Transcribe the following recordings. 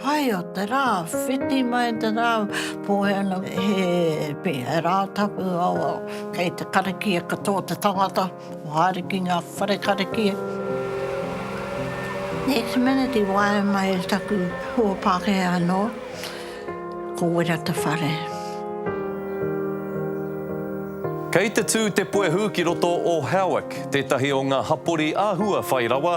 Pai o te rā, whiti mai te rā, pōhē ana he pē, he rā tapu awa, kei te karakia katoa te tangata, kua haere ki ngā whare karakia. Next minute i waea mai taku hoa Pākehā anō, ko Wera Te Whare. Kei te tū te puehu ki roto o Howick, tētahi o ngā hapori āhua whai rawa,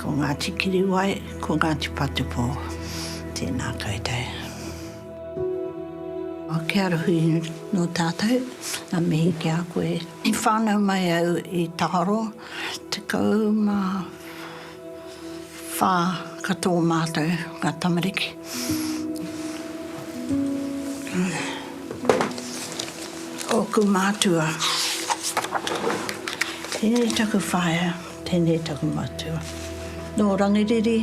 Ko Ngāti Kiriwai, ko Ngāti Patupō. Tēnā koutou. Kia ora hui nō tātou, ngā mihi ki a koe. I whānau mai au i Taharo, tekau mā whā katoa mātou ngā tamariki. Ōku mātua, tēnei taku whaea. Tēnei taku matua. Nō Rangiriri,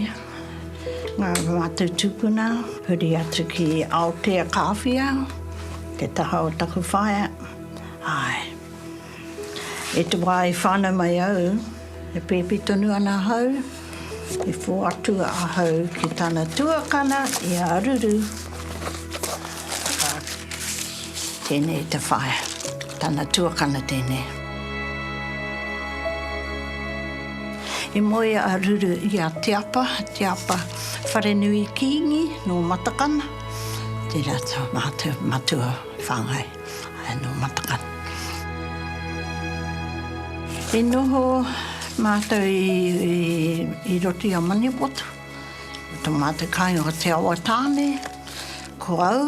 ngā mātou tūpuna, huri atu ki Aotea Kāwhia, te taha o taku whaea. Āe. I te wā i whānau mai au, e pēpi tonu ana ahau, i whoatua ahau ki tana tuakana i a Ruru. Tēnei te whaea. Tana tuakana tēnei. I moe a Ruru i a Te Apa, Te Apa Wharenui Kīngi nō Matakana, tērā tā mātou matua whāngai nō Matakana. I noho mātou i roto i a Maniapoto, ko tā mātou kāinga ko Te Awatāne, ko au,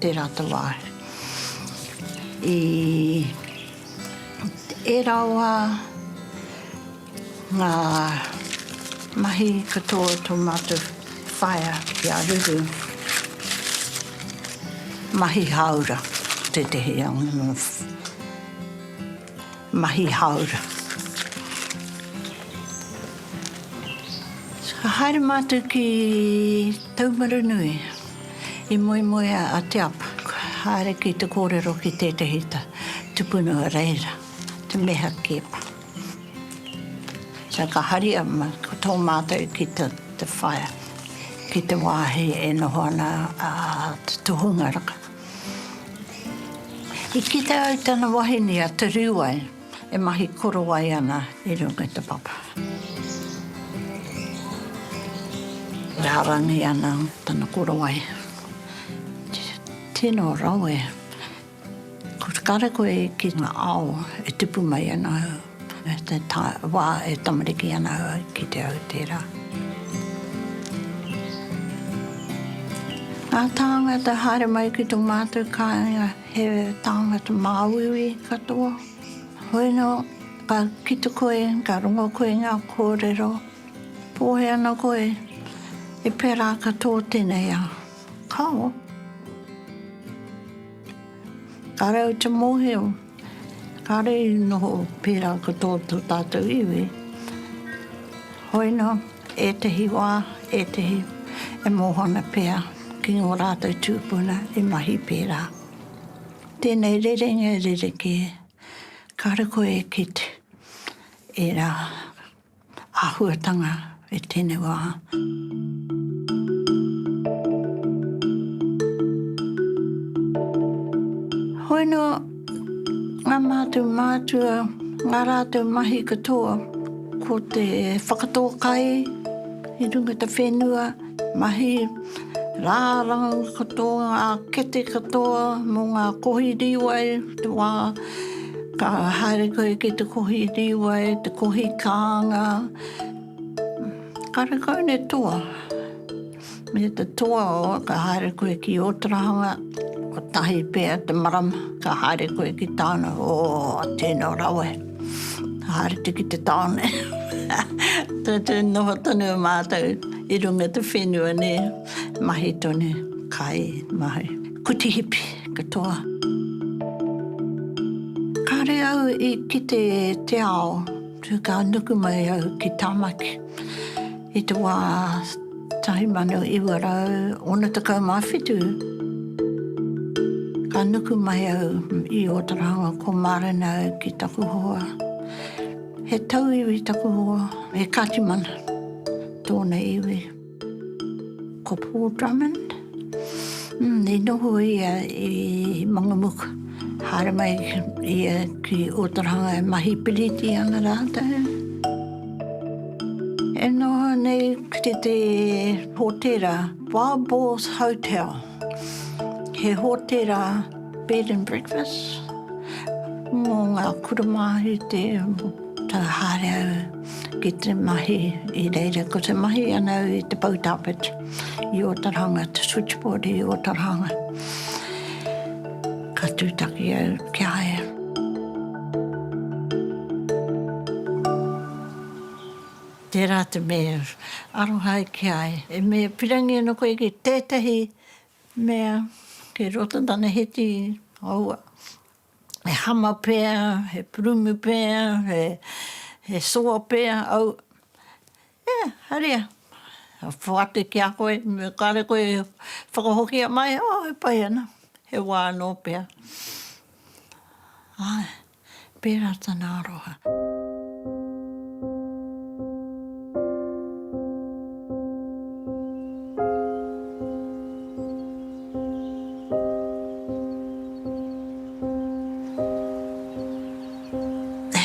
Te rata wā. I ērā wā, ngā mahi katoa o tō mātou whaea ki a Ruru, mahi hāora tētehi. Mahi hāora. Ka haere mātou ki Taumarunui i moemoea a Te Apa, ka haere ki te kōrero ki tētehi tupuna o reira, te Meha Keepa. Ka haria ko tō mātou ki te whaea, ki te wāhi e noho ana a Te Tohungaraka. I kite ai tana wahine a Te Riuai e mahi korowai ana i runga i te papa. Rārangi ana tana korowai. Tino rawe. Kare koe ki nga ao e tupu mai ana. Te wā e tamariki ana au i kite au i tērā. Ngā tāngata haere mai ki tō mātou kāinga he tāngata māuiui katoa. Hoi nō, ka kite koe, ka rongo koe i ngā kōrero, pōhē ana koe, i pērā ka tō tēnei ao. Kao! Ka rau te mōhio. Kāre i noho pērā ko tō tātou iwi. Hoina, ētehi wā, ētehi e mōhona pea ki ngō rātou tūpuna i mahi pērā. Tēnei rerenga e rerekē, kāre koe e kite ērā Āhuatanga e tēnei wā. Hoi nō, ngā mātou mātua, ngā rātou mahi katoa, ko te whakatō kai i runga te whenua, Mahi, rā rangau katoa, ngā kete katoa mō ngā kohi rīwai, te wā ka haere koe ki te kohi rīwai, te kohi kānga, karekau nei toa. Me te toa o, ka haere koe ki Ōtarahanga, kotahi pea te marama, ka haere koe ki tāna, ō, tēnā rawa. Haere te ki te taone. Tūtū noho tonu mātou i runga te whenua nē. Mahi tonu, kai, mahi. Kuti hipi, katoa. Kāre au i kite te ao, tū ka nuku mai au ki Tamaki. I te wā 1967, ka nuku mai au i Ōtaraonga ko Marenau ki taku hoa. He tauiwi taku hoa, he Katimana tōna iwi. Ko Paul Drummond, I noho ia i Mangamuka, haere mai ia ki Otoranga e mahi piriti ana rātou. E noho nei ki te te hōtēra Barbaugh's Hotel, he hōtēra bed and breakfast mō ngā kura Māori te whakahaere au ki te mahi i reira, ko te mahi ana au i te poutāpeta. I Otaranga, te switchboard i Otaranga. Ka tūtaki au ki a ia. Tērā te mea, aroha ai ki a ia. E me pirangi ana koe ki tētahi mea, ki roto tana heti, aua, he hama pea, he purumu pea, he soa pea, aua. E, haere. Whai ake ki a koe, me kare koe e whakahokia mai, o, e pai ana, he wā anō pea. Āe, pērā tana aroha.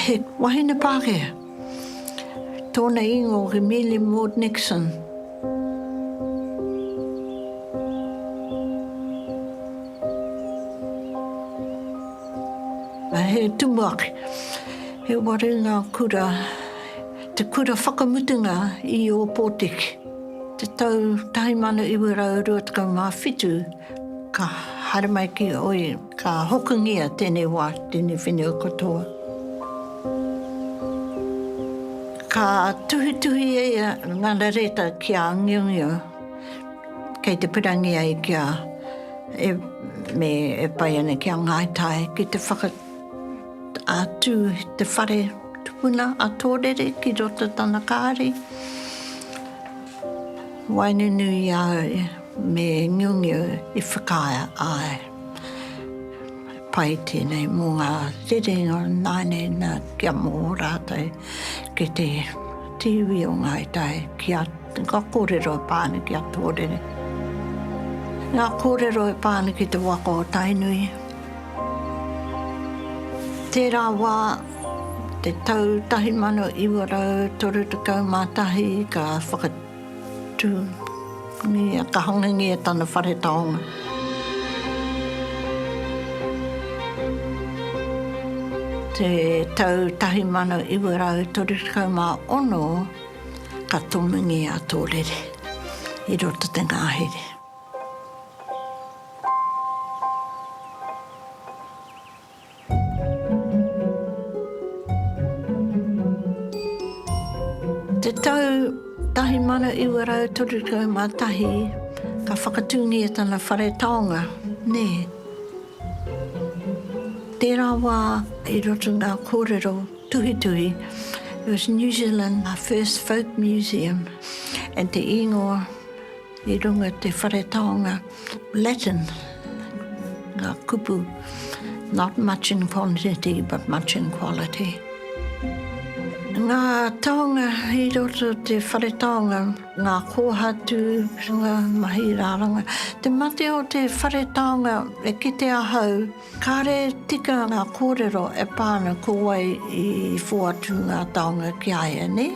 He wahine Pākehā. Tōna ingoa ko Millie Maud Nixon. He tumuaki, he waru ngā kura, te kura whakamutunga i Ōpōtiki. Te tau 1927 ka haere mai ki Ōi. Ka hokingia tēnei wā ki tēnei whenua katoa. Ka tuhituhi ia ngana reta ki a Angiongio kei te pirangi ai ki a e me e pai ana ki a Ngāi Tai ki te whaka a tū te whare tupuna a Tōrere ki roto tana kāri. Waenunu i a au me Ngiongio i whakaae ai. Pai tēnei mō ngā rerenga nāne nā kia mō rātou ki te te iwi o Ngāi Tai ki a ngā kōrero e pā ana ki a Tōrere. Ngā kōrero e pā ana ki te waka o Tainui. Tērā wā, te tau 1931 ka whaka. Tū. Ia ka hongingi e tana whare taonga. Te tau tahi mano iwa rau toru tekau ma ono ka tomingi a Tōrere i roto te ngahere. Te tau 1931 ka whakatūngia tana whare taonga, nē. Tērā wā i roto ngā kōrero tuhituhi, it was New Zealand first folk museum, and te īngoa, I runga i te whare taonga Latin nga kupu not much in quantity but much in quality. Nga taonga i roto te whare taonga, nga kohatu, nga mahi raranga. Te mate o te whare taonga e kite ahau, Kāre tika ngā kōrero e pā ana ko wai i who atu ngā taonga ki a ia, nē?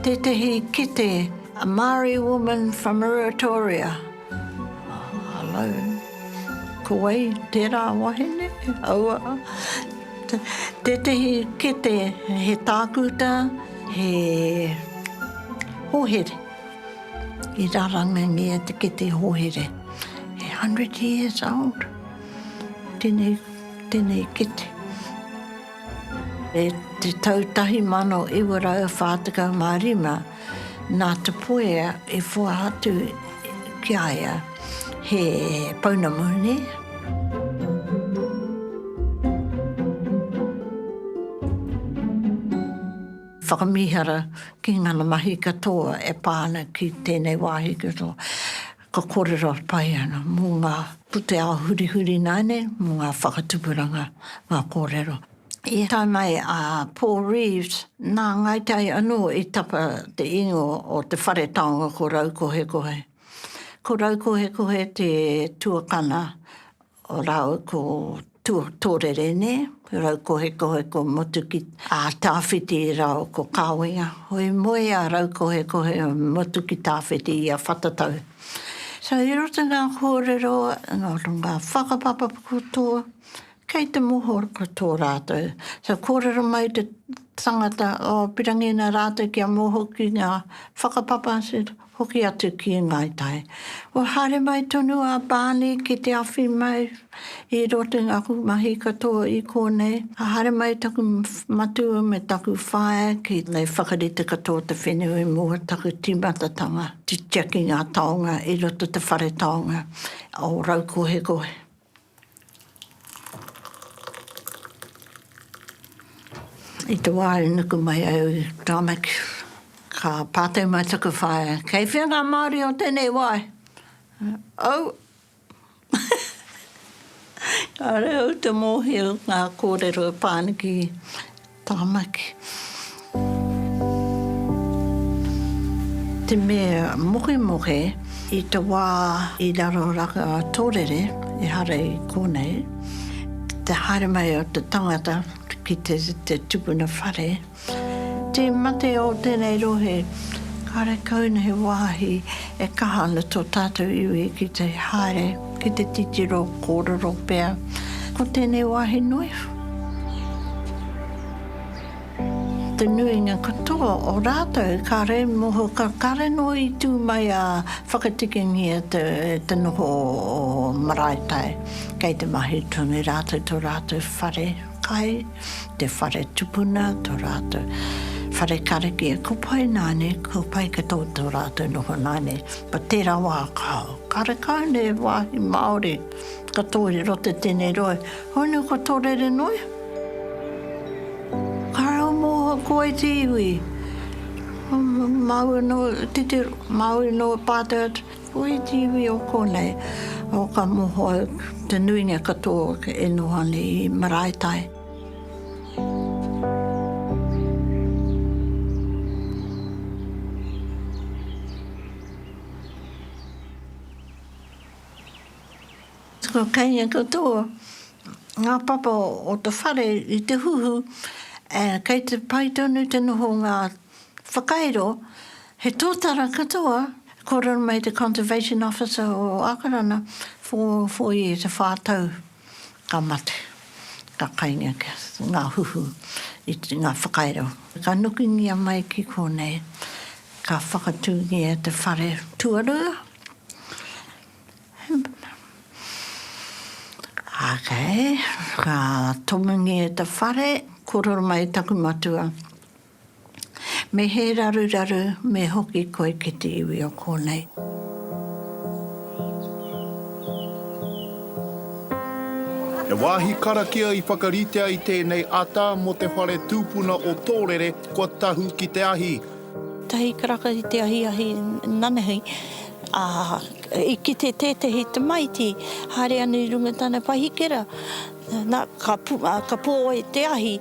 Tētehi kete, A Māori woman from Ruatoria. Hello. Ko wai tērā wahine? Aua. Tētehi kete, he tākuta, he hohere. I rarangangia te kete hohere. He hundred years old. Tenei, tenei kete. E te tau tahi mano iwa rau wha tekau ma rima, na Te Puea i whoahatu ki a ia he pounamu, ne? Whakamihara ki ngana mahi katoa e pa ana ki tenei wahi katoa. Ka kōrero pai ana mō ngā pūtea hurihuri nāne, mō ngā whakatupuranga, ngā kōrero. I tae mai a Paul Reeves, nā Ngāi Tai anō i tapa te ingoa o te whare taonga ko Raukohekohe. Ko Raukohekohe te tuakana Rau ko Tōrere nē, rau ko Hekoheko motu ki Tāwhiti rau ko Kāwenga. Hoi moe a rau ko Hekohe motu ki Tāwhiti i a Whatatau. So i roto i ngā kōrero nō ngā whakapapa katoa, kei te mohor ko tō rātou. So kōrero mai te tangata, oh pirangina rātou kia moho ki ngā whakapapa, Hoki atu ki Ngāi Tai. Kua haere mai tonu a Barney ki te awhi mai i roto i ngā kukumahi katoa i kōnei. Ka haere mai taku matua me taku whaea ki ngei whakarite katoa o te whenua i mua taku timatatanga titia ki ngā taonga i roto te whare taonga o Raukohekohe. I te wā i nuku mai au i Tāmaki, ka pātai mai taku whaea, kei whea ngā Māori o tēnei wā? Au! Kāore au te mōhio ngā kōrero e pā ana ki. Taranaki. Te mea mohemohe i te wā i raro raka tōrere, ehara i kōnei, te haere mai o te tangata ki te tupuna whare, te mate o tēnei rohe, kāre kau nei he wāhi e kaha ana tō tātou iwi ki te haere. ki te titiro kōrero pea ko tēnei wāhi nui. Te nuinga katoa o rātou kāre moho ka kāre nō i tū mai a whakatikingia te te noho o Maraetai kei te mahi tonu rātou to rātou whare kai. Te whare tupuna to ratou whare karakia ko pai nane ko pai ka to to ratou noho nane pa tera wa kao karekau ne wahi maori ka torero te tene rohe hoi no ka torere noe kare o moho koe te iwi maui no titiro maui no pato Ko iti iwi o konei, o ka moho au, te nuinga katoa e noho ana i Maraetai. Ko keinga katoa nga papa o te whare i te huhu, kei te pai tonu te noho o nga. Whakairo, he tōtara katoa e kōrero mai te Conservation Officer o Ākarana, for four years, e whā tau, ka mate, ka kainga ki ngā huhu i ngā whakairo. Ka nukingia mai ki kōnei, ka whakatūngia te whare tuarua, okay, ka tomungia te whare, kōrero mai taku matua, Me he raruraru me hoki koe ki te iwi o kōnei. He wāhi karakia i whakaritea i tēnei ata mō te whare tūpuna o Tōrere kua tahu ki te ahi. Tahi karaka i te ahiahi nanahi, ā, i kite tētehi tamaiti haere ana i runga i tana pahikera, nā, ka pō ai te ahi.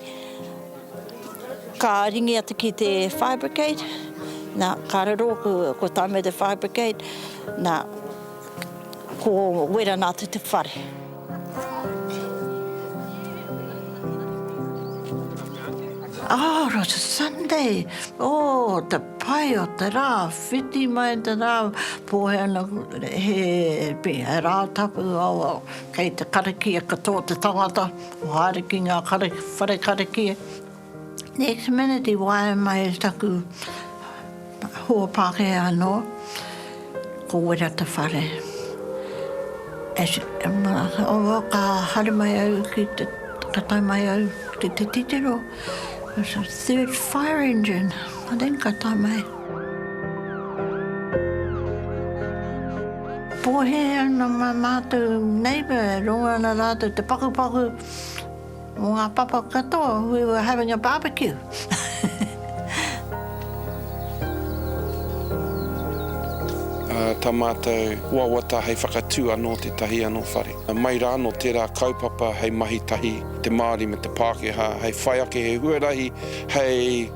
Ka ringi atu ki te fire brigade, nā, ka riro ko, ko Taime the fire brigade, nā, ko wera nā atu te whare. Oh, it was a Sunday, oh, te pai o te rā, whiti mai te rā, pōhēnā, he, he rā tapu, oh, kei te karakia katoa te tangata, Ko haere ki nga whare kariki. Next minute i waea mai taku hoa Pakeha ano, ko Wera Te Whare. Ka haere mai au ki te, ka tae mai au ki te titiro, third fire engine, I think ka tae mai. Pōhē ana mā mātou neighbour e rongo ana rātou te pakupaku mō ngā papa katoa, we were having a barbecue. Tā mātou wawata hei whakatū anō tētahi anō whare. Mai rā nō tērā kaupapa hei mahi tahi te Māori me te Pākehā hei whai ake he huarahi hei.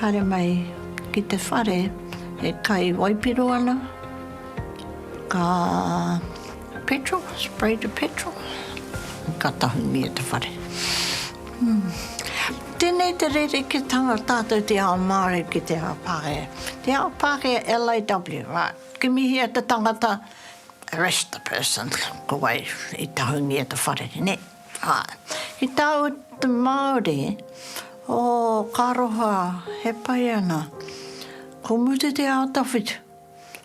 Haere mai ki te whare e kai waipiro ana, ka petrol, spray the petrol, ka tahungia te whare. Tēnei te rerekētanga tātou te ao Māori ki te ao Pākehā. Te ao Pākehā LAW, right, kimihia te tangata, arrest the person, ko wai i tahungia te whare, nē? Āe. Ki tāu te Māori, ō, ka aroha, he pai ana. Ko Mute te ao tawhito,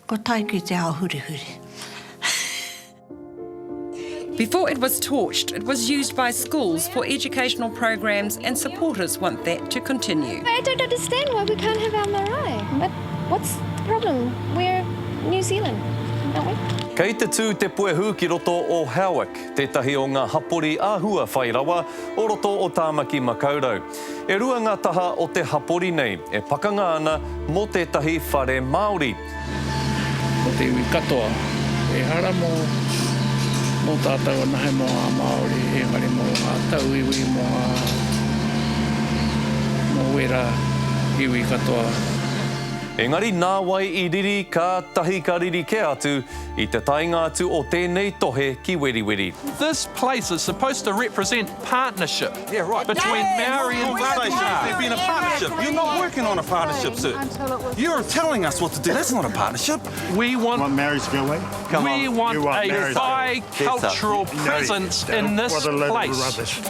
ko Taiki te ao hurihuri. Before it was torched, it was used by schools for educational programs and supporters want that to continue. I don't understand why we can't have our marae. What, what's the problem? We're New Zealand, aren't we? Kei te tū te puehu ki roto o Howick. tētahi o ngā hapori āhua whai rawa o roto o Tāmaki Makaurau. E rua ngā taha o te hapori nei e pakanga ana mō tētahi whare Māori. Ko te iwi katoa, ehara mō mō tātou anahe mō ngā Māori, engari mō ngā tauiwi, mō ngā, mō wērā iwi katoa. Engari nāwai i riri, kātahi ka riri kē atu I te taenga atu o tēnei tohe ki Weriweri. This place is supposed to represent partnership between Maori and Pākehā. You're not working on a partnership, sir. You're telling us what to do. That's not a partnership. We want a bi-cultural presence in this place.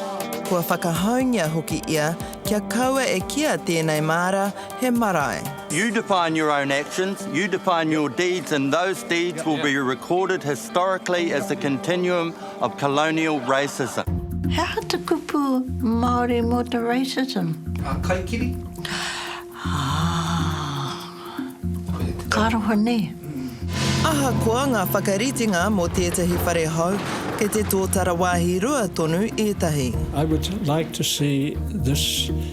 Kua whakahaungia hoki ia kia kaua e kīa tēnei māra he marae. You define your own actions, you define your deeds and those deeds will be recorded historically as the continuum of colonial racism. He aha te kupu Māori mō te racism? A kaikiri. Āa. Ka roa nei. Ahakoa ngā whakaritenga mō tētahi whare hou, kei te tōtara wāhi rua tonu ētahi. I would like to see this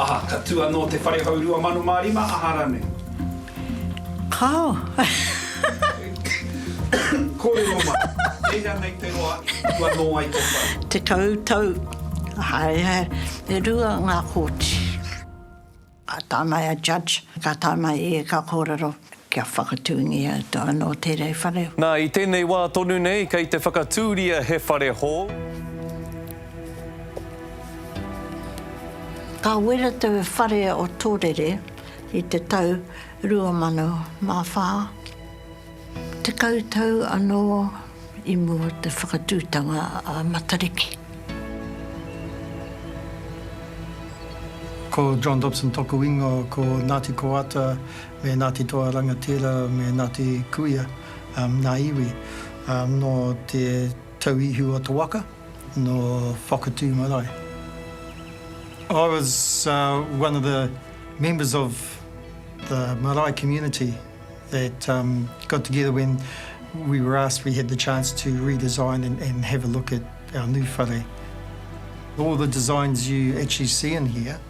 Aha, ka tū anō te whare hou 2005, aha rānei? Kāo. Kōrero mai, e hea nei te roa i tū anō ai tō whare? Tekau tau, aha, e rua ngā kōti. Ka tāmai a Judge, ka tāmai ia ka kōrero, Kia whakatūngia to anō tērei whare hou. Nā, i tēnei wā tonu nei, kei te whakatūria he whare hou. Ka wera te whare o Tōrere i te tau 2004, tekau tau anō i mua te whakatūtanga a Matariki. Ko John Dobson toku ingoa, ko Ngāti Koata. me Ngāti Toa Rangatira, me Ngāti Kuia, ngā iwi nō te tauihu o te waka, nō Whakatū marae. I was one of the members of the marae community that got together when we were asked, we had the chance to redesign and have a look at our new whare. All the designs you actually see in here,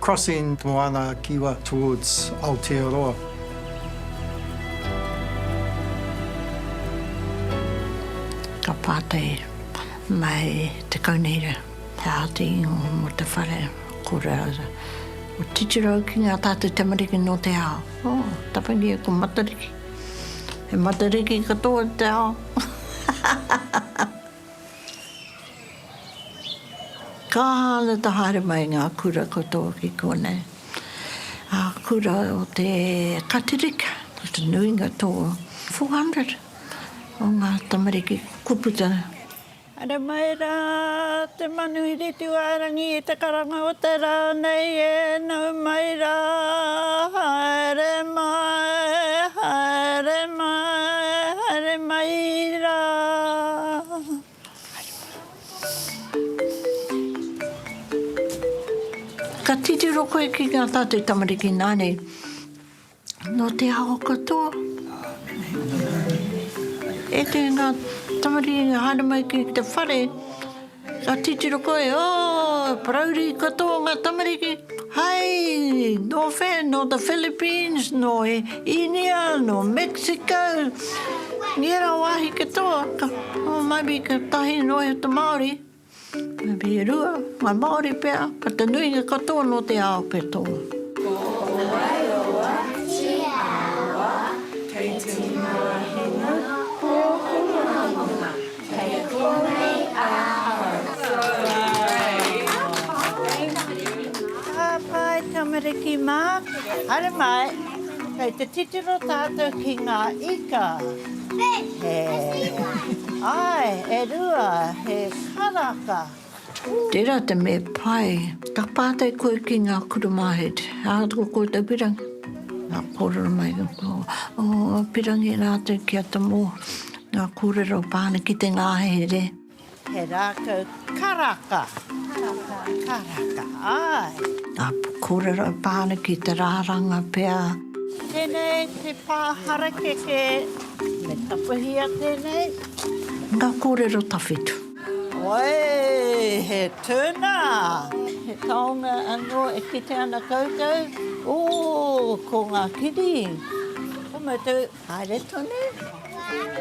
Crossing the Moana Kiwa towards Aotearoa. Ka pātai mai te kaunihera, he aha te ingoa mō te whare? Ko Rose, ko titiro au ki ngā tātou tamariki nō te ao. Oh, taparia e ko Matariki. He Matariki katoa te ao. Ka aha ana te haere mai i ngā kura katoa ki konei? Ā, kura o te Katirika, ko te nuinga tō 400 o ngā tamariki, ko Kuputara. Haere mai rā te manuhiri Tūārangi i te karanga o te rā nei e nau mai rā, haere mai, haere mai, haere mai rā. Haere mai. Ka titiro koe ki ngā tātou tamariki nāne. Nō te aho katoa. E te ngā tamariki i haere mai ki te whare, ka titiro koe, oh, parauri katoa ngā tamariki, hai, nō whē, nō the Philippines, nō India, nō Mexico, i ērā wāhi katoa, ka, oh, maybe ka tahi noa i te Māori, Marie Rua, Ngāi Māori pea, ko te nuinga katoa nō te ao kei tō. Tāwhai tamariki mā, haere mai, kei te titiro tātou ki ngā ika. Ae, e rua, he karaka. Tera te me pai. Ka patai koe ki nga kura mahere, ahakoa ko koutou pirangi. Nga korero mai nga kura, oh, pirangi ratou ki a Tomo, nga korero pane ki te ngahere. He rākau karaka. Karaka. Karaka, āe. Ngā kōrero pānui ki te rāranga pea. Tēnei te pā harakeke. Me tapahia tēnei. Ngā kōrero tawhito. Wai, he tuna! He taonga anō e kite ana koutou, ō, ko ngā kiri. Ko mātou. Haere tonu.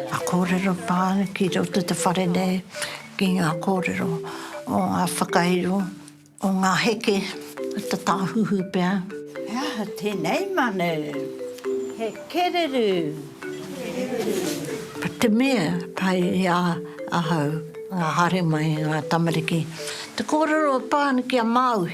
Nga korero pa ki roto te whare nei ki nga korero o nga whakairo o nga heke a ta Tahuhu pea. He aha tenei manu? He kereru. Pa te mea pai i a ahau nga haere mai nga tamariki te korero pa ki a Maui.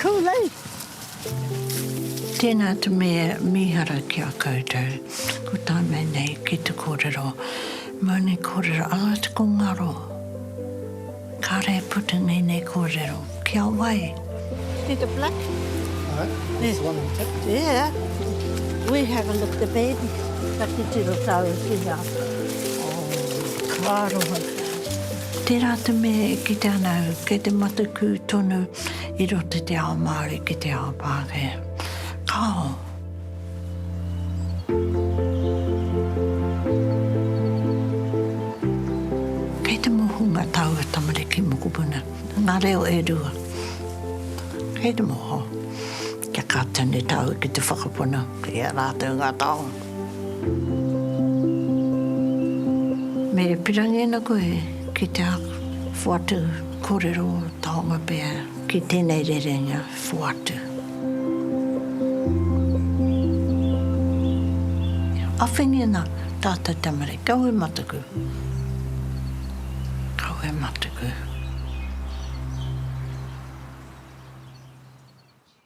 Too late! Tēnā te mea mīhara ki a koutou, ko tā mea nei ki te kōrero, Maunei kōrero, alati ko ngaro. Kāre e puta nei nei kōrero, ki a wai? Peter Black. Aye, that's the one on tape. Yeah. We have a look the baby, ka titiro tāua ki hea. Oh, ka aroha. Tērā te mea e kite ana au, kei te matakū tonu. I roto i te ao Māori ki te ao Pākehā. Kāo! Kei te moho ngā taua tamariki mokopuna, ngā reo e rua. Kei te moho. Kia kātau nei tāua ki te whakapono i a rātou ngā taonga. Me pirangi ana koe ki te whoatu korero taonga pea ki tenei rerenga whoatu. Awhene ana tatou tamariki. Kawe matuku. Kawe matuku.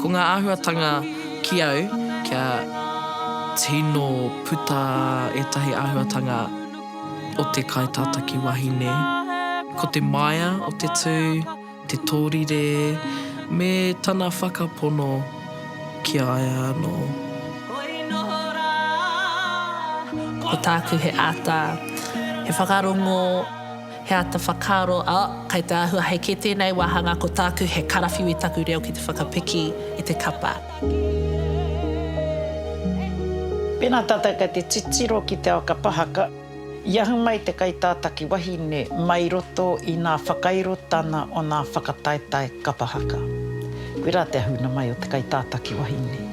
Ko ngā āhuatanga ki au, kia tino puta ētahi āhuatanga o te kaitātaki wahine. Ko te maea o te tū, te tōrire, me tana whakapono ki a ia anō. Ko tāku he āta, he whakarongo. He ata whakaaro, oh, kai te ahua hei kē tēnei wāhanga ko tāku he karawhiu i taku reo ki te whakapiki i te kapa. Pēnā tātou kei te titiro ki te ao kapahaka, i ahu mai te kaitātaki wahine mai roto i nā whakairotana o nā whakataetae kapahaka. Koe rā te ahuna mai o te kaitātaki wahine.